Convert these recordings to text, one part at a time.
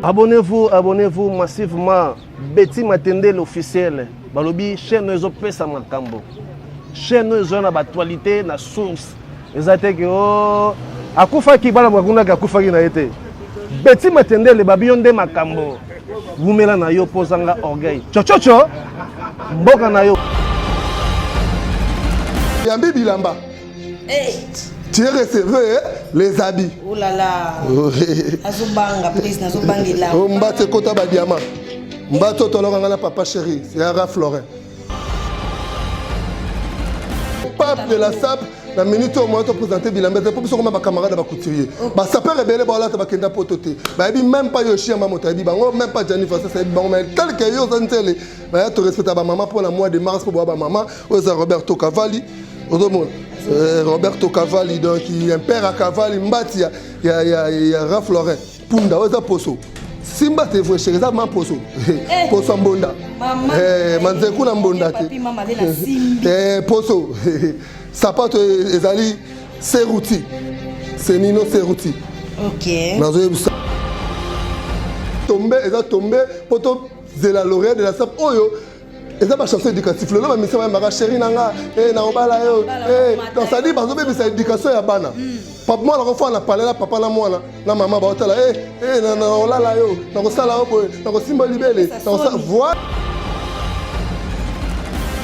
Abonnez-vous, abonnez-vous massivement. Betty Matende l'officiel. Balobi chaîne ezo pesa makambo. Chaîne ezo na actualité na source. eza te ke o oh, akufaki bana bakunaki akufaki na ye te beti matendele babi yo nde makambo wumela na yo mpo ozanga orgueil cococo mboka na yo yambi bilamba eh. tu es receveur eh? les habits oh là là oh, eh. azobanga please nazobangela ombati ekota badiama mbati otolaka ngai na papa chéri c'est ara florin pape de la sape na minute oyo moya topresente bilamba te mpo biso koma bacamarade ya bacouturier basapeur ebele baolata bakenda poto te bayebi meme pas yoshi yamba moto ayebi bango meme pas jani vasas ayebi bango mai tel ke yo oza nzele baya torespecta bamama mpo na mois de mars mpo boya bamama oyo eza roberto cavali ozomona euh, roberto cavali donc impere ya cavali mbati ya, ya, ya, ya ralph lauren punda oyo eza poso simba telefone sheri eza ma poso eh. poso ya mbonda eh, manzeku na mbonda te eh, poso sapato e, ezali seruti senino seruti nazoyebisa tombe eza tombe mpo tozela l'oreille de la sap oyo eza bachanson éducatif lelo bamisa bayembaka sheri na nga eh, na obala yo eh, donc cestadire bazobebisa éducation ya bana hmm. mwana kofana na palela papa na mwana na mama baotala eh, na olala yo nakosala yo boye nakosimba libele voi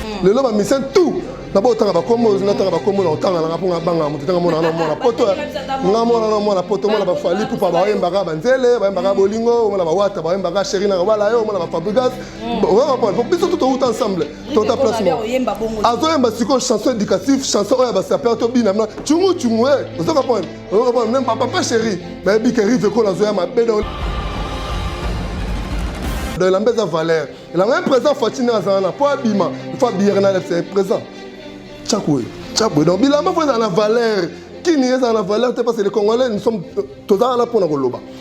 hmm. lelo bamisa tout na botanga bakombo natanga bakombo na otanga nanga mpo nga banga moto tanga mwana na mwana poto nga mwana na mwana poto mwana bafali pupa bayembaka banzele bayembaka bolingo omona bawata bayembaka sheri na kobala yo omona bafabrigas biso to touta ensemble tota place moko azoyemba sikoyo chanson éducatif chanson oyo ya basapeur tobinama cungu cungu e ozo comprendre ozo comprendre même papa chéri bayebi ke rive ekola azoya mabe donc donc elamba eza valeur elamba ye présent fati nde azala na mpo abima ifo abiyere na lefse présent tyakoye tyakoye donc bilamba fo ezala na valeur kini ezala na valeur te parce que les congolais nous sommes tozala na mpo na koloba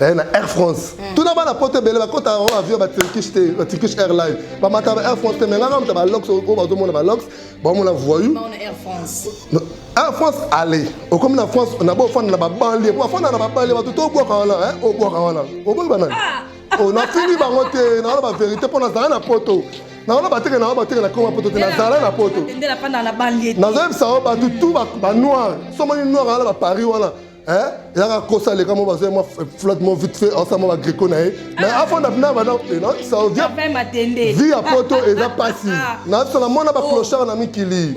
eh, na air france mm. tuna bana poto ebele bakota yango avion baturkish te baturkish airline bamata ba air france te me nganga moto balox oyo bazomona balox baomona voyou air france ale okomi na france nabo ofanda na babanlie po afanda na babanlie bato to obwaka wana obwaka wana oboki banani ah! oh, nafingi bango te nawana baverité mpo nazala na poto nawana bateke nawa bateke na koma poto te nazala na poto nazoyebisa yo bato tu banoir somoni noir wana baparis wana Hein? yaka kosa aleka mo bazwa mwa flotte mo vite fait aosala mwa bagreco na ye mais ah. afanda mpena bana saodia vi ya poto eza mpasi ah. nasala mwana baclochard na mikili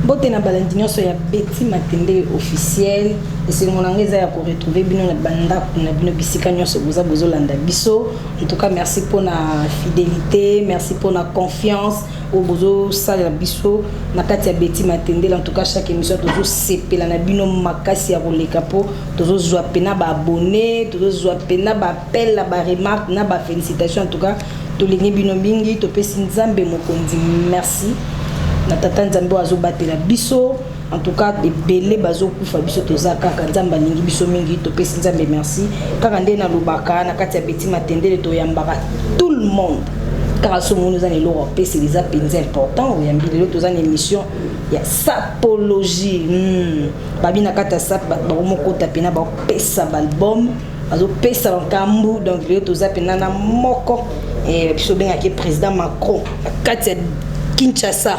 mbote na balandi nyonso ya beti matende officiel esengo na yango eza ya koretrouve bino na bandako na bino bisika nyonso boza bozolanda biso en tout cas merci mpo na fidélité merci mpo na confiance oyo bozo salela biso na kati ya Betty Matendele en tout cas chaque émission tozo sepela na bino makasi ya koleka po tozo zwa pena ba abonnés tozo zwa pena ba appel na ba remarques na ba félicitations en tout cas tolingi bino mingi topesi Nzambe mokonzi merci na tata Nzambe oyo azo batela biso En tout cas ebele bazokufa biso toza kaka nzambe alingi biso mingi topesi nzambe merci kaka nde nalobaka na kati ya beti matendele toyambaka tout le monde kaka so omoni oza na eloko apesela eza mpenza important oyambi lelo toza na émission ya sapologie hmm. babi na kati ya sap bakomokota mpena bakopesa baalbum bazopesa bankambu donc lelo toza mpena na moko eh, biso obengaki président macron na kati ya kinshasa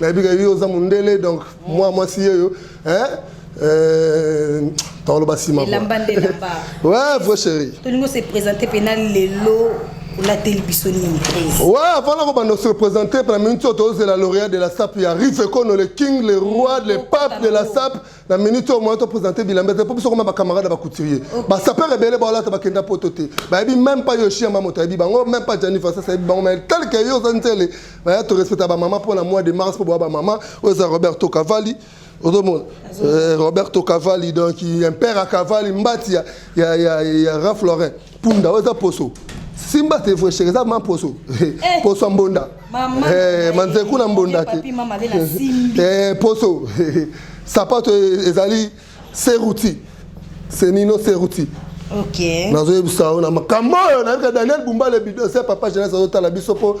nayebi ke yo oza mondele donc mwa mwasi yeyo hein euh, tokoloba nsima elamba nde elamba ouais vrai chéri tolingi ose présente mpena lelo olateli biso nini ouais avant na kobanda ose présente mpena minute oyo tozela lauréat de la sape ya rive ekono le king le roi le pape de la sape na minute oyo moyen to présenter bilamba te mpo biso koma bacamarade ya bacouturier basapeur ebele baolata bakenda poto te bayebi même pas yoshi yama moto ayebi bango même pas jani fasas ayebi bango mai tel que yo oza nzele baya torespecta bamama mpo na mois de mars mpo boya bamama oyo eza roberto cavalli ozomona euh, roberto cavalli donc impere ya cavalli mbati ya, ya, ya, ya ralph laurin punda oyo eza poso simba telefone sheke eza ma poso eh. poso ya mbonda eh, manzeku na mbonda te eh, poso sapato e, ezali seruti senino seruti nazoyebisa yo na makambo oyo nayebika daniel bumbale bidose papa jeunesse azotala biso mpo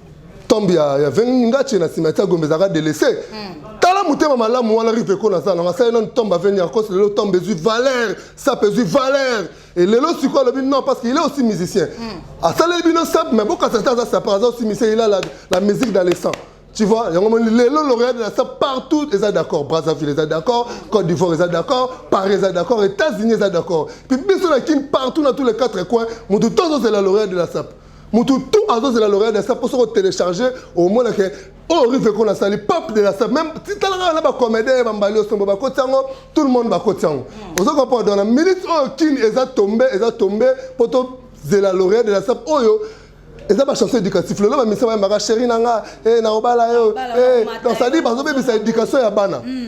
tombe ya, ya vengi ngache na nsima tia gombe ezalaka delese mm. tala motema malamu wana rive eko naza nango asali nanu tombe aveni ya kosi lelo tombe ezwi valeur sape ezwi valeur e lelo sikoyo alobi non parce que il est aussi musicien mm. asaleli bino sape mais bokasa te aza sape aza aussi musicien il a la, la musique dans le sang tu vois yango moni lelo lauréat de la sape partout eza d'accord brazzaville eza d'accord côte d'ivoire eza d'accord paris eza d'accord états-unis eza d'accord puis biso na kin partout na tous les quatre coins motu tozozela lauréat de la sape mutu tout azozela l'oreal de star mpo soki otelecharge omona ke oyo oh, rive ekona asali pape de la star même titala kaka na bacomédien ya bambali osombo bakoti yango tout le monde bakoti yango hmm. ozo comprendre donc na minute oyo oh, kini eza tombe eza tombe mpo tozela l'oreal de la star oyo oh, eza bachanson éducatif lelo bamisa bayambaka chéri na nga eh, na obala yo eh, donc sadi bazobebisa éducation ya bana hmm.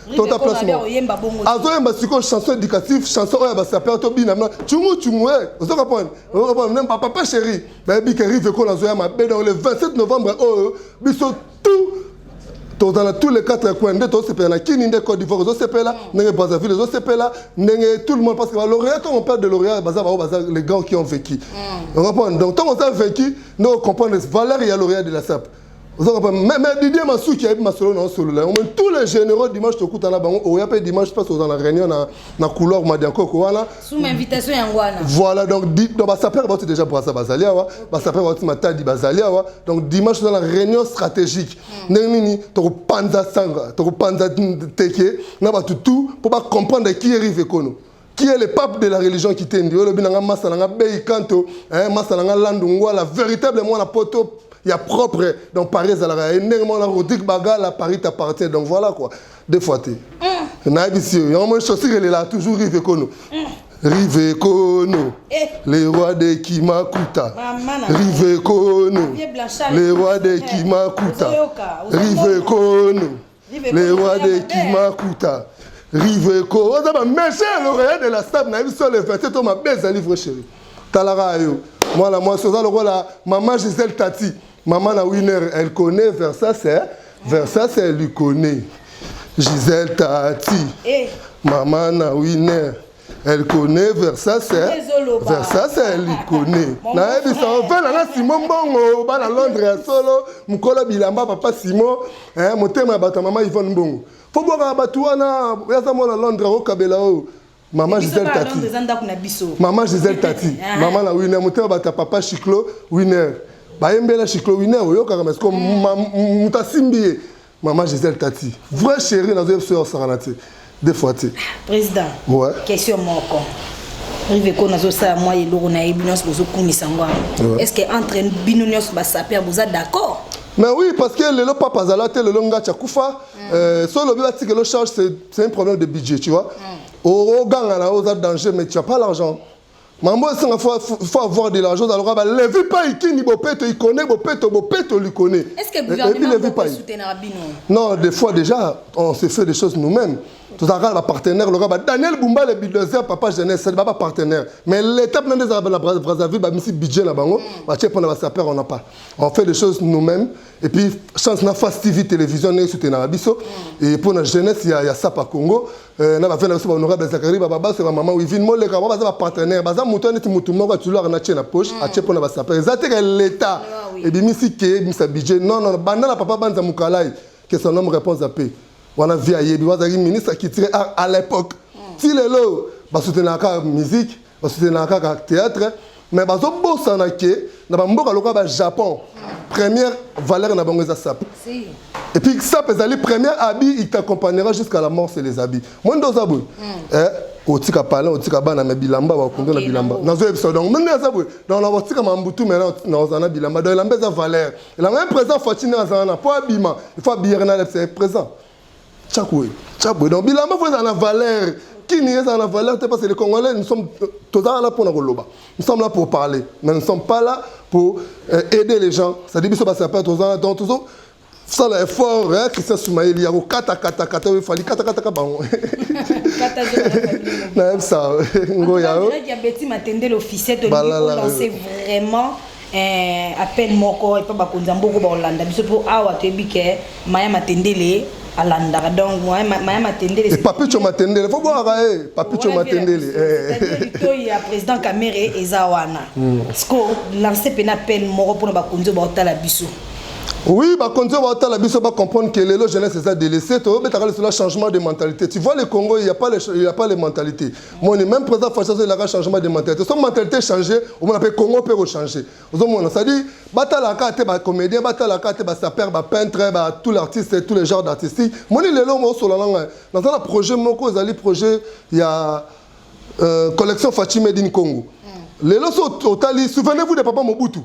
Tota place mo. Azo yemba siko chanson éducative, chanson oya ba sapeur to bina na chungu chungu eh. Ozo comprendre? Ozo comprendre même papa chéri. Ba yebi que rive ko na zo ya ma be dans le 27 novembre oh biso tout tozala tous les quatre coins nde tozosepela na kini nde côte d'ivoire ozosepela ndenge brazzaville ozosepela ndenge tout le monde parce que baloria ntango on parle de loria baza bango baza les grands qui ont vécu mm. on comprendre donc ntango oza vécu nde ocomprendre valeur ya loria de la sape Vous avez compris Mais, mais Didier Massou qui a eu Masolo dans solo là, tous les généraux dimanche te kuta na bango, oh, oya pe dimanche passe dans la réunion na na couloir Madianko ko wana. Sous invitation ya ngwana. Voilà donc dit donc ba sapeur ba déjà brassa bazalia wa, ba sapeur ba matadi bazalia wa. Donc dimanche dans la réunion stratégique. Hmm. Ndenge nini to panza sanga, to panza teke na ba tout pour ba comprendre qui arrive kono. qui est le pape de la religion kitendi oyo lobi na nga masta na nga bei kanto eh, masta na nga landu ngwala véritable mwana poto ya propre donc paris ezalaka ye ndenge mwana rodrigue bagala paris t'appartient donc voilà quoi deux fois te mm. nayebisi yo yango moi chaussure elela toujours rive ekono mm. rive ekono eh. le roi de kimakuta rive ekono le roi de kimakuta rive ekono le roi de kimakuta riveco oza bamese ya loreya de la stab na biso le 27 to mabe ezali vrai chéri talaka yo mwana mwasi oza lokola mama gisele tati mama na winner elle connaît versas versas elle lui connaît gisele tati eh. mama na winner Elle connaît Versace. Versace, elle y connaît. Na ebi sa ofe na na Simon Mbongo, ba na Londres ya solo, mukolo bilamba papa Simon, eh motema ya bata mama Yvonne Mbongo. Faut boka batu wana, ya za mona Londres o kabela o. Maman Gisèle Tati. Maman Gisèle Tati. Ah. Maman la winner, motema bata papa Chiclo winner. Bayembela Chiclo winner, oyokaka mais comme mm. mutasimbi ye. Maman Gisèle Tati, vraie chérie nazo yebisa yo sakana te. Des fois te. Président. Ouais. Question moko. rive ko nazosala mwa eloko na ye bino nyonso bozokumisa ngo yango est ce que entre bino nyonso basaper boza d'accord mais oui parce que lelo papa azala te lelo ngati akufa mm. euh, so olobi batikelo charge c'est un problème de budget tu vois mm. oganga na yo oza danger mais tu as pas l'argent mambo esanga faut avoir de l'argent aloka ba levi pai kini bopeto ikone bopeto bopeto likone et puis levi pai non des fois déjà on se fait des choses nous-mêmes tozalaka na bapartenaire loka ba daniel bumba le bidozer papa jeunesse ba bapartenaire mais l'état mpena nde ezalaka na brazzaville bamisi budget na bango batie mpona basaper on a pas on fait des choses nous-mêmes et puis chance na face tv télévision ndenge soutenaka biso et mpona jeunesse ya, ya sapa congo Eh, na bafela biso bahonorable zakari bababase bamama wivine moleka ba baza bapartenaire baza moto ya neti motu moko atulaka na tie na poche mm. atie mpo na basaper eza teka leta ebimisi ke ebimisa budget non non banda na papa banza mokalai que son homme réponse ape wana vie ayebi wazalaki ministre culturel à l'époque mm. ti lelo basoutenaka musique basoutenaka kaka théâtre mais bazobosana ke na bamboka lokola ba japon première valeur na bango eza sape et puis sape ezali première habit il t'accompagnera jusqu'à la mort c'est les habits moi nde oza boye hmm. eh, otika palin otika bana me bilamba bakundo na bilamba nazoyebisa donc mende aza boye donc na kotika mambutu me naoza na bilamba donc elamba eza valeur elamba ya présent fatine azala na mpo abima il faut abiyaka na lepsa présent Chakwe, chakwe. Donc bilamba faut ezala na valeur. Kini ezala na valeur te parce que les Congolais nous sommes tozala là pona koloba. Nous sommes là pour parler, mais nous ne sommes pas là pour euh, aider les gens. Ça dit biso ba sapeurs tozala donc tozo sala effort hein, Christian Soumaïli ya kokata kata kata oyo fali kata kata ka bango. Kata zo. Na yebisa ngo ya. Direct ya Betty Matendele officiel to lancer vraiment eh, appel moko epa bakonzi ya mboka bakolanda biso mpo awa toyebi ke maya matendele alandaka donc maya matendele eh, papicho matendele fo bwaka e eh, papicho matendele litoi ya président camere eza wana hmm. siko lance mpena appel moko mpona bakonzi oyo baotala biso Oui, bah, conduire va la biso va comprendre que les jeunesse les a délaissés. Tu veux le changement de mentalité. Tu vois le Congo, il n'y a pas les, il y a pas les mentalités. moni même président faci azo elaka changement de mentalité so mentalité change omona mpe congo mpe kochange ozomona cestadire batalaka te bacomédien batalaka te basaper bapeintre ba tout l'artiste tous les genres d'artistique moni lelo mosola nanga naza na projet moko ezali projet ya euh, collection faci made in congo mm. lelo so otali souvenez vous de papa mobutu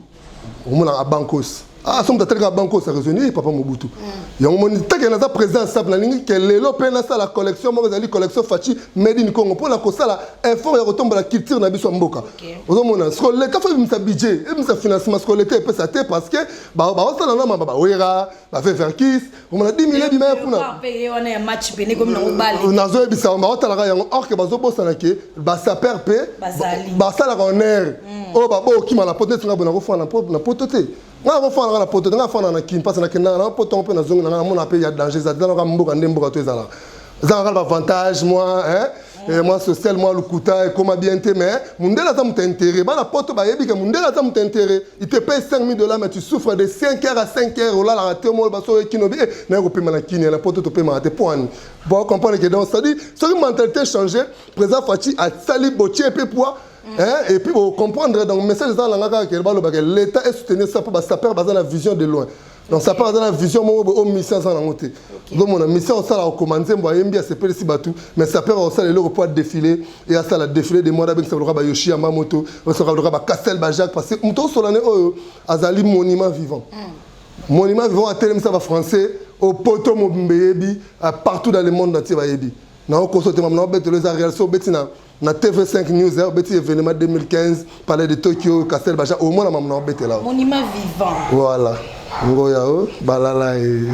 omonaka abankos ah somo tatalika abankos araisoni e eh, papa mobutu mm. yango moni take naza président sap nalingi ke lelo mpe nasala collection moko ezali collection faci made in congo mpo na kosala effort ya kotombola culture na biso ya mboka ozomona siko leta fo ebimisa budget ebimisa financement siko leta epesa te parce que baosala na mama bawera baveverkis omona 10 mille ebimaya kuna nazoyebisa yango baotalaka yango or ke bazobosana ke basaper mpe basalaka onere mm. oyo baboya okima na poto neti ngai bona kofana na poto te ngai nakofanaka na poto te ngai afanaka na kin mpasi nakendaka na poto yango mpe nazongi na ngai namona mpe ya danger ezala mboka nde mboka to ezalaka eza kaka na bavantage mwa eh, mwa social mwa lokuta ekoma bien te mais mundele aza moto intérêt bana poto bayebi ke mundele aza moto intérêt il te paye 5000 dollars mais tu souffres de 5 heures à 5 heures olalaka te omo baso oye kino bi eh, naye kopema na kini na poto topemaka te po ani bo comprendre ke donc c'est-à-dire soki mentalité change président faci asali botie mpe poids Hein? Et puis, vous comprendre, donc, le message, c'est que l'État est soutenu ça pour les sapeurs, la vision de loin. donc sapeur aza na vision moko boye oyo oh, misia aza nango te ozomona misia osala kokoma nzembo ayembi asepelisi bato mais sapeur akosala eloko mpo adefile e asala defile de mwana abengisa loka bayoshi ya mamoto osoka loka bacastel bajacques parce que moto osolane oyo azali monument vivant hmm. monument vivant atelemisa bafrançais au poto mobimba eyebi partout dans le monde entier bayebi naokoso te mama naobetelo eza real so obeti na na TV5 News eh, obeti événement 2015 palais de Tokyo Castel Baja au moins na maman obete là. Monument vivant. Voilà. Ngoya o oh, balala e.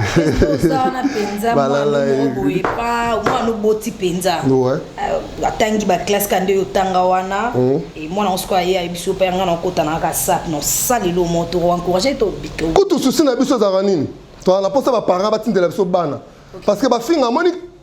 Sana penza balala e. Boye pa moi no boti penza. Ouais. Euh, atangi ba classe kande yo tanga wana mm. et moi na osko aye a biso pa nga na kota na ka sap no sali lo moto encourager to bito. Kutu souci na biso za nini? To na posa ba parents batindela biso bana. Parce que ba finga moni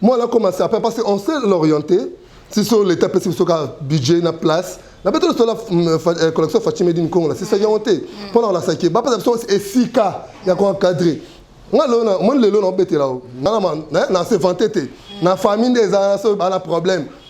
Moi là comme ça parce qu'on sait l'orienter si so l'état pesi biso kaka budget na place na mpe tolosola collection faci medi nkongo na sisa yango te mpo na kolakisa ke bapesa biso esika ya koencadre nga lelo na omoni lelo na obetela o nga na se vante te na famille nde eza so bana problème mm.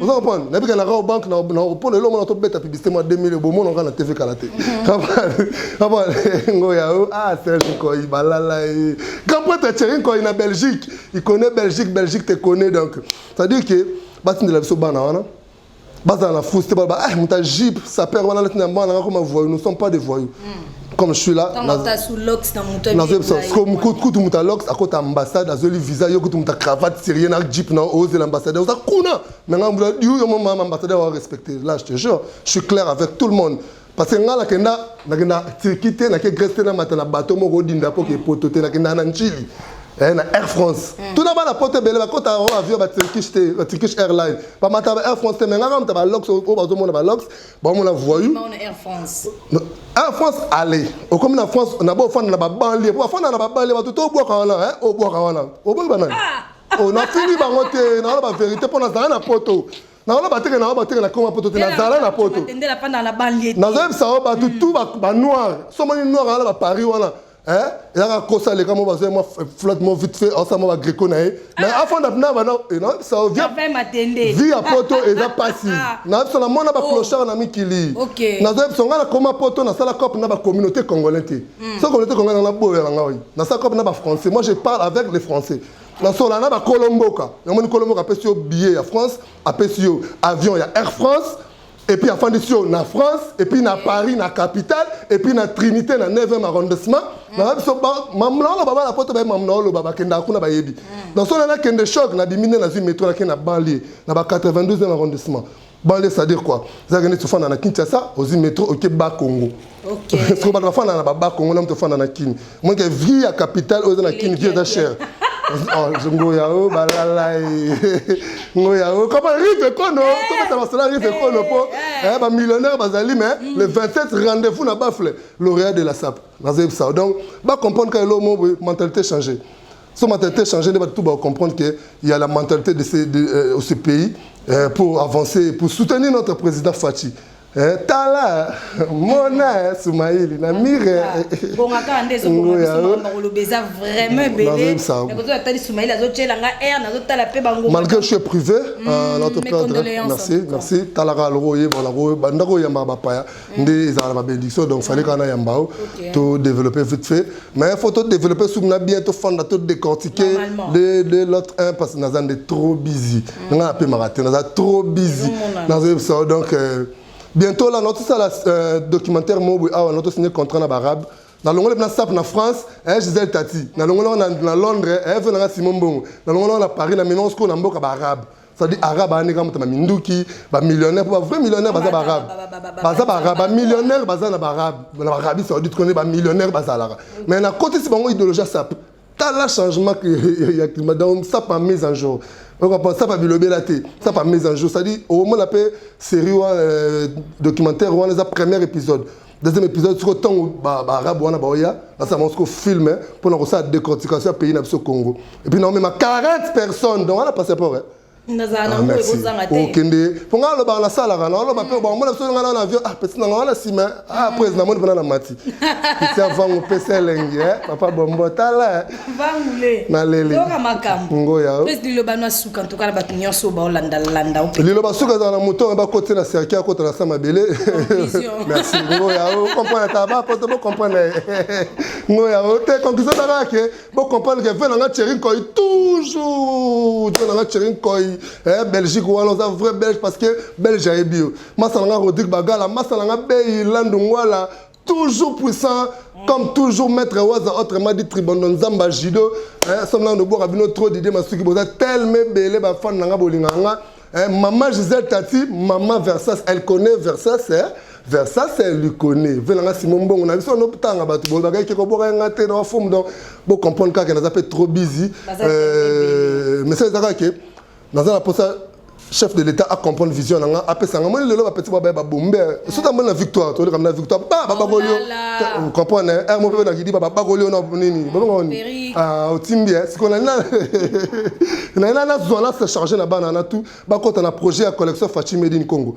oza comprendre nabika na kao banque na repond lelo mona tobeta publicité mwa 2000 bomona nga na tv kala te kaba ngo ya o ah serge koi balala e kampata cherin koi na belgique il connaît belgique belgique te connaît donc c'est à dire que batindela biso bana wana bazala na fausse te baloba ah moto ya jipe sapeur wana alati na mbana nga koma voyou nous sommes pas des voyous mm. comme je suis là kutu moto ya lox akota ambassade azweli visa yo kutu moto ya cravate sérieux na jeep na ozela ambassadeur oza kuna me ngai mbula yo yo mama ambassadeur wa respecte là je te jure je suis clair avec tout le monde parce que ngai nakenda nakenda turquie te nake grèce te namata na bateau moko odinda mpo ke poto te nakenda na ntili eh, na air france mm. tuna bana poto ebele bakota o avion baturkish te baturkish airline bamata ba air france te me ngai kamata balox oyo bazomona balox bamona voyou air france air france ale okomi na france na bofanda na babanlie po bafanda na babanlie bato to obwaka wana eh, obwaka wana oboyi banani ah! oh, nafingi bango te nawana baverité mpo nazala na poto nawana bateke na bateke na koma poto te nazala na poto nazoyebisa yo bato tu banoir somoni noir wana baparis wana eh yaka kosa leka mo bazo mo flat mo vite fait osa mo ba greco na ye mais ah. afanda na bana et non ça vient vie à poto et ça passe ah. na biso na mona ba oh. clochard na mikili na zo biso ngana koma poto na sala cop na ba communauté congolais te hmm. so communauté congolais na boya na ngai na sala cop na ba français moi je parle avec les français na sola na ba kolomboka na moni kolomboka apesi yo billet ya France apesi yo avion ya Air France et puis afandisi yo na france et puis na paris na capitale et puis na trinité na 9e arrondissement mm. na biso mamnaolo baba na poto baye mamnaolo baba kendaka kuna bayebi mm. donc sona nakende choc na bimi nde nazwi metro nakende na banlieu na ba 92e arrondissement banlieu c'est-à-dire quoi ezalaki neti ofanda na kinshasa ozwi metro oke ba congo Okay. Siko bato bafanda na baba Congo na moto afanda na Kin. Moi que vie ya capitale oyo eza na Kin vie eza cher. Oh, ngoya o oh, balala eh. ngoya o oh, kama rive kono eh. tobeta masala rive kono mpo eh, bamillionnaire bazali mais mm. le 27 rendez-vous na bafle lauréat de la sap nazoyebisa donc bacomprendre ka elo mo mentalité change so mentalité change nde bato tu bacomprendre que ya la mentalité de ce, de, euh, ce pays euh, pour avancer pour soutenir notre président faci Eh, tala mona eh, sumaili na mire bongaka nde ezobongakoloba eza vraiment ebeleatali sumaili azotyela nga air nazotala mpe bango malgré je suis privé mm, euh, merci merci talaka loko oyeba lako bandako oyambaka bapaya mm. nde ezalaka na babédiction donc fallait mm. kana yamba o to développer vite fait mais il faut to développer sur na bien to fanda to décortiquer le le l'autre un parce que naza nde trop busy mm. nga pe marate naza trop busy nazo ça donc euh, bientôt là notre ça la euh, documentaire mobu awa notre signé contrat na barabe na longole na sap na France eh Gisèle Tati na longole na na Londres eh na Simon Bongo na longole na Paris na Milan sco na mboka barabe sadi arabe ayandi kaka moto baminduki bamillionnaire mpo bavrai millionnaire baza baarabe baza baarabe bamillionnaire baza na baarabe na barabi saudite kone bamillionnaire bazalaka mais nakotisi bango idéologie asape tala changement ya climat donc sape en mise en jour okopa sapa bilobela te sapa mise en jour c'est-à-dire omona mpe série wana euh, documentaire wana eza premier épisode deuxième épisode soko ntango baarabe wana baoya basala bango soko film eh, mpo na kosala décortication ya pays na biso congo epuis naomema 40 personnes donc wana passeport eh. nazala ah, na ngo ekozanga te okende mpo ngai alobaka nasalaka naoloba mpe bamona biso ngai na avion ah pesi nanga wana nsima ah après namoni mpona na mati pesi avango pesi elengi eh, papa bombo tala eh. liloba suka ezala na moto bakoti na serki akota na sa mabele merci ngoya ocomprendre ata bapoto bocomprendre ngoya o te conclusion ezalaka ke bocomprendre ke ve nanga cherin koi toujours ve nanga cherin koi eh, belgique wana oza vrai belge parce que belge ayebi yo masa nanga rodrigue bagala masa nanga bei landu ngwala toujours puissant comme toujours maître waza autrement dit tribondo nzamba judo somla nobwaka bino trop dide masuki boza telme ebele bafane na nga bolinga nga mama gisele tati mama versas elle connaît versas eh? versas elle lui connaît vela nga simo mbongo na biso notanga bato bolobaka eke kobwaka nga te na fomu donc bocomprendre kaka naza mpe trop busy euh, message eza kaka ke naza na posa chef de l'état a comprendre vision na nga apesa nga moni lelo bapeti babaya babombe soki amoni na victoire toleka na victoire ba babakoli yo comprendre r mo pepe na kidiba babakoli yo na nini babakoni otimbi sikoyo nani nani nazwa na se charge na bana na tout bakota na projet ya collection fachi made in congo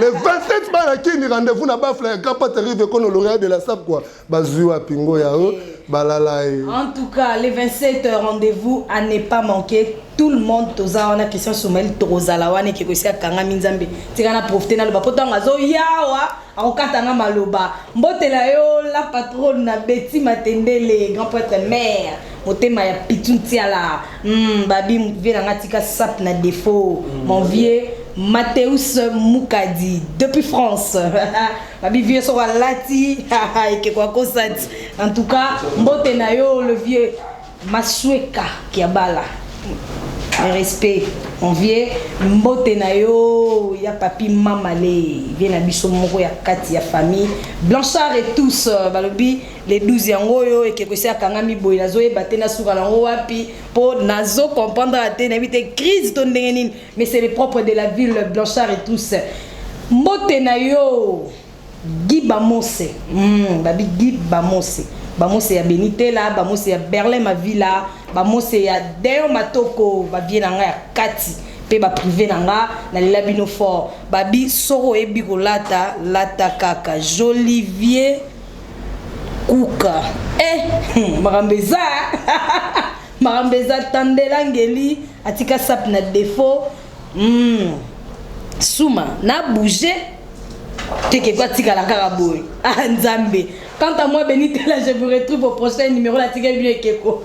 le 27 bana kini rendez-vous na bafla ya grand pate rive kono lauréat de la sab quoi bazwi wapi ngo ya o balala ye en tout cas le 27 rendez-vous à ne pas manquer tout le monde toza wana christian soumail tokozala wana ekeko esi akangami nzambe tika na profite naloba mpo ntango azoyawa Akokata nga maloba. Mbote na yo la patronne na Betty Matendele, grand prêtre mère. Motema ya Pitou Ntiala. Hmm, babi vie na nga tika sap na défaut. Mon vieux Mateus Mukadi depuis France. babi vieux soko alati ekeko akosati. En tout cas, mbote na yo le vieux Masueka kiabala respect mon vieux mbote na yo ya papi mama le vie na biso moko ya kati ya famille blanchard et tous euh, balobi le 12 yango oyo ekeko esi akangami boye nazoyeba te nasuka nango wapi mpo nazo comprendre te nayebi te crise to ndenge nini mais c'est le propre de la ville blanchard et tous mbote na yo Guy Bamose hum babi Guy Bamose Bamose ya Beni Tela Bamose ya Berlin Mavila Bamose ya Deon Matoko ba vieux na nga ya kati pe ba prive na nga na lela bino fort babi soki oyebi kolata lata kaka Jolivier Kuka eh hum makambo eza makambo eza Tandela Ngeli atika sape na defaut Hum suma na bouger teke ko atikala kaka boye ah nzambe quant à moi benite là je vous retrouve au prochain numéro la tikali bino ekeko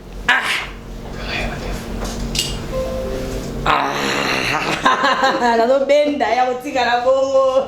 nazobenda ya kotikala bongo